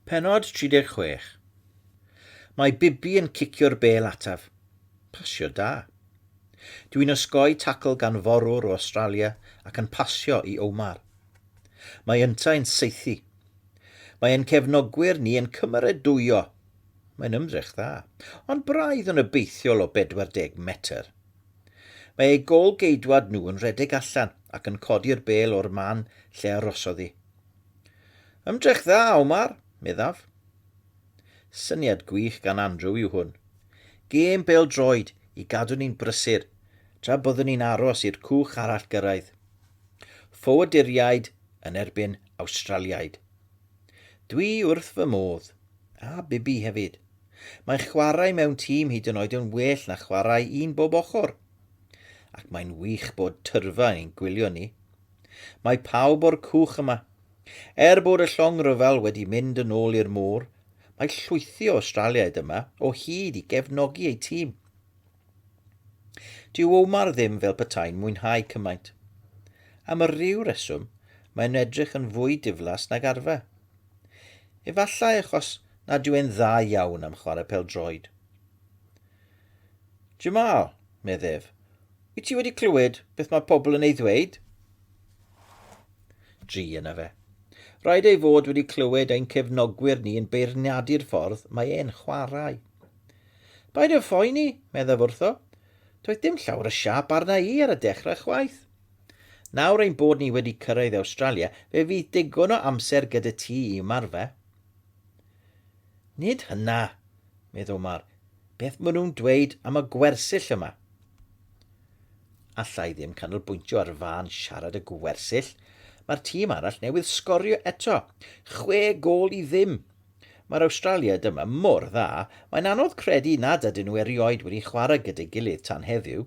Pennod 36. Mae Bibi yn cicio'r bêl ataf. Pasio da. Dw i'n osgoi tacl gan forwr o Awstralia ac yn pasio i Omar. Mae yntau'n saethu. Mae ein cefnogwyr ni yn cymeradwyo. Mae'n ymdrech dda. Ond braidd yn obeithiol o 40 metr. Mae eu gôl-geidwad nhw yn rhedeg allan ac yn codi'r bêl o'r man lle arosodd hi. Ymdrech dda, Omar, meddaf. Syniad gwych gan Andrew yw hwn. Gêm bêl-droed i gadw ni'n brysur tra byddwn ni'n aros i'r cwch arall gyrraedd. Ffoaduriaid yn erbyn Awstraliaid. Dwi wrth fy modd. A Bibi hefyd. Mae chwarae mewn tîm hyd yn oed yn well na chwarae un bob ochr. Ac mae'n wych bod tyrfa yn ein gwylio ni. Mae pawb o'r cwch yma. Er bod y llong rhyfel wedi mynd yn ôl i'r môr, mae llwythi o Awstraliaid yma o hyd i gefnogi eu tîm. Dyw Omar ddim fel petai'n mwynhau cymaint. Am y rhyw reswm, mae'n edrych yn fwy diflas nag arfer. Efallai achos nad yw e'n dda iawn am chwarae pel-droed. Jamal, medd ef, Wyt ti wedi clywed beth mae pobl yn ei ddweud? Dri yna fe. Rhaid ei fod wedi clywed ein cefnogwyr ni yn beirniadu'r ffordd mae e'n chwarae. Paid yn phoeni, meddaf wrtho. Doedd dim llawer o siap arna i ar y dechrau chwaith. Nawr ein bod ni wedi cyrraedd Awstralia, fe fydd digon o amser gyda ti i ymarfer. Nid hynna, meddwl Mar. Beth maen nhw'n dweud am y gwersyll yma? Alla i ddim canolbwyntio ar fân siarad y gwersyll. Mae'r tîm arall newydd sgorio eto. Chwe gol i ddim. Mae'r Awstralia dyma mor dda, mae'n anodd credu nad ydyn nhw erioed wedi chwarae gyda'i gilydd tan heddiw.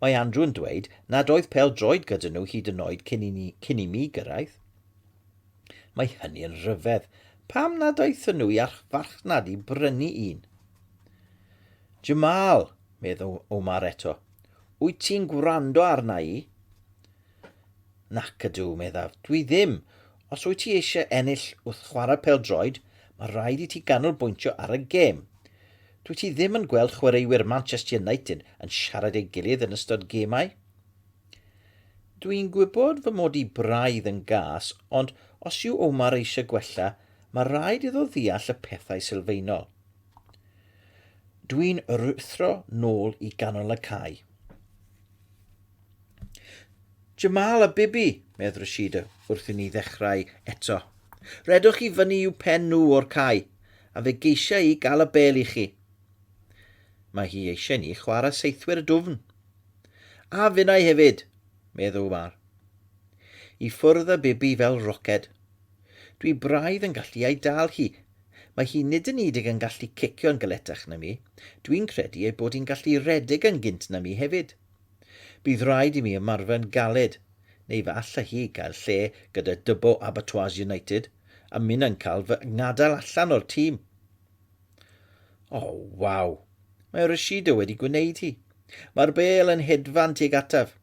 Mae Andrew yn dweud nad oedd pel droed gyda nhw hyd yn oed cyn i, ni, cyn i mi gyrraedd. Mae hynny yn rhyfedd. Pam nad aethon nhw i archfarchnad i brynu un? Jamal, meddw Omar eto, wyt ti'n gwrando arna i? Nac ydw, meddaf, dwi ddim. Os wyt ti eisiau ennill wrth chwarae peldroed, mae rhaid i ti ganolbwyntio ar y gêm. Dwi ti ddim yn gweld chwaraewyr Manchester United yn siarad ei gilydd yn ystod gemau. Dwi'n gwybod fy mod i braidd yn gas, ond os yw Omar eisiau gwella, mae rhaid iddo ddeall y pethau sylfaenol. Dwi'n ruthro nôl i ganol y cae. Jamal a Bibi, medd Rashida wrth i ni ddechrau eto. Redwch chi fyny i'w pen nhw o'r cae, a fe geisiau i gael y bel i chi. Mae hi eisiau ni chwarae seithwyr y dwfn. A finnau hefyd! meddw Umar. I ffwrdd â Bibi fel roced. Dwi braidd yn gallu ei dal hi. Mae hi nid yn udig yn gallu cicio'n galetach na mi, dwi'n credu ei bod hi'n gallu rhedeg yn gynt na mi hefyd. Bydd rhaid i mi ymarfer'n galed, neu fe alla hi gael lle gyda Dubbo Abattoirs United a minnau'n cael fy ngadael allan o'r tîm! O, oh, waw! Mae Rashida wedi gwneud hi. Mae'r bel yn hedfan tuag ataf.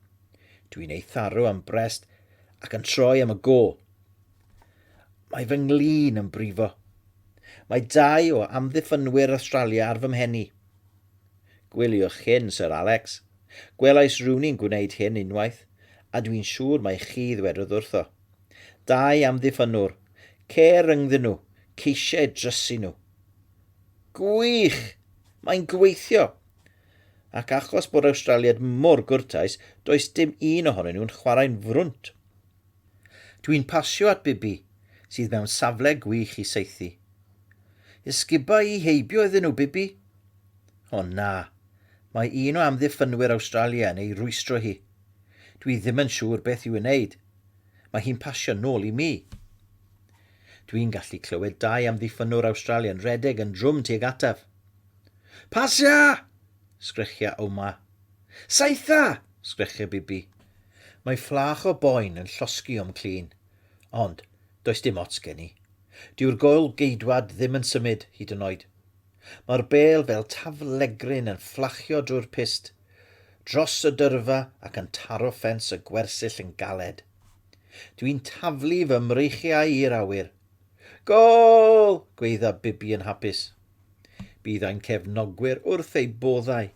Dwi'n ei tharu am brest ac yn troi am y gol. Mae fy nglin yn brifo. Mae dau o amddiffynwyr Australia ar fy mhen i. Gwyliwch hyn, Sir Alex. Gwelais rhywun i'n gwneud hyn unwaith, a dwi'n siŵr mae chi ddwedodd wrtho. Dau amddiffynnwr, ce rhyngddyn nhw, ceisiau drysu nhw. Gwych! Mae'n gweithio! Ac achos bod Awstraliaid mor gwrtais, does dim un ohonyn nhw'n chwarae'n frwnt. Dwi'n pasio at Bibi, sydd mewn safle gwych i saethu. Ysguba i heibio iddyn nhw, Bibi! O na, mae un o amddiffynwyr Awstralia yn ei rwystro hi. Dwi ddim yn siŵr beth i'w wneud. Mae hi'n pasio nôl i mi. Dwi'n gallu clywed dau amddiffynnwr Awstralia'n rhedeg yn drwm tuag ataf. Pasio! sgrechiau Omar. Saetha! sgrechiau Bibi. Mae fflach o boen yn llosgi o'm clun. Ond, does dim ots gen i. Dyw'r goel geidwad ddim yn symud, hyd yn oed. Mae'r bêl fel taflegryn yn fflachio drwy'r pyst. dros y dyrfa ac yn taro ffens y gwersyll yn galed. Dwi'n taflu fy mreichiau i'r awyr. Gôl! gweidda Bibi yn hapus. Bydd ein cefnogwyr wrth eu boddau.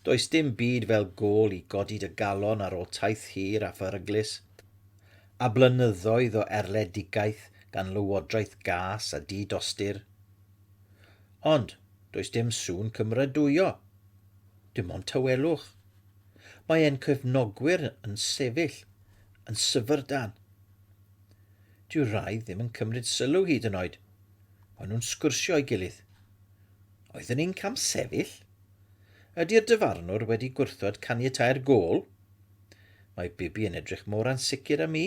Does dim byd fel gôl i godi dy galon ar ôl taith hir a pheryglus, a blynyddoedd o erledigaeth gan lywodraeth gas a di-dostur. Ond, does dim sŵn cymeradwyo. Dim ond tawelwch. Mae ein cefnogwyr yn sefyll yn syfrdan. Dyw rai ddim yn cymryd sylw hyd yn oed. Maen nhw'n sgwrsio ei gilydd. Oeddwn i'n camsefyll? Ydy'r dyfarnwr wedi gwrthod caniatau'r gol? Mae Bibi yn edrych mor ansicr â mi.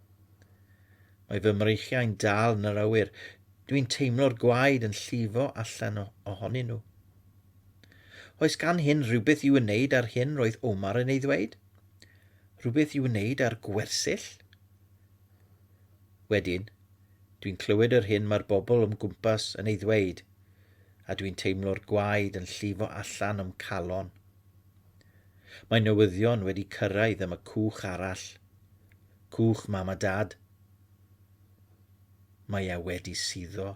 Mae fy mreichiau'n dal yn yr awyr. Dwi'n teimlo'r gwaed yn llifo allan ohonyn nhw. Oes gan hyn rhywbeth i'w wneud ar hyn roedd Omar yn ei ddweud? Rhywbeth i'w wneud ar gwersyll? Wedyn, dwi'n clywed yr hyn mae'r bobl o'm gwmpas yn ei ddweud, a dwi'n teimlo'r gwaed yn llifo allan o'm calon. Mae newyddion wedi cyrraedd am y cwch arall. Cwch mam a dad. Mae e wedi suddo.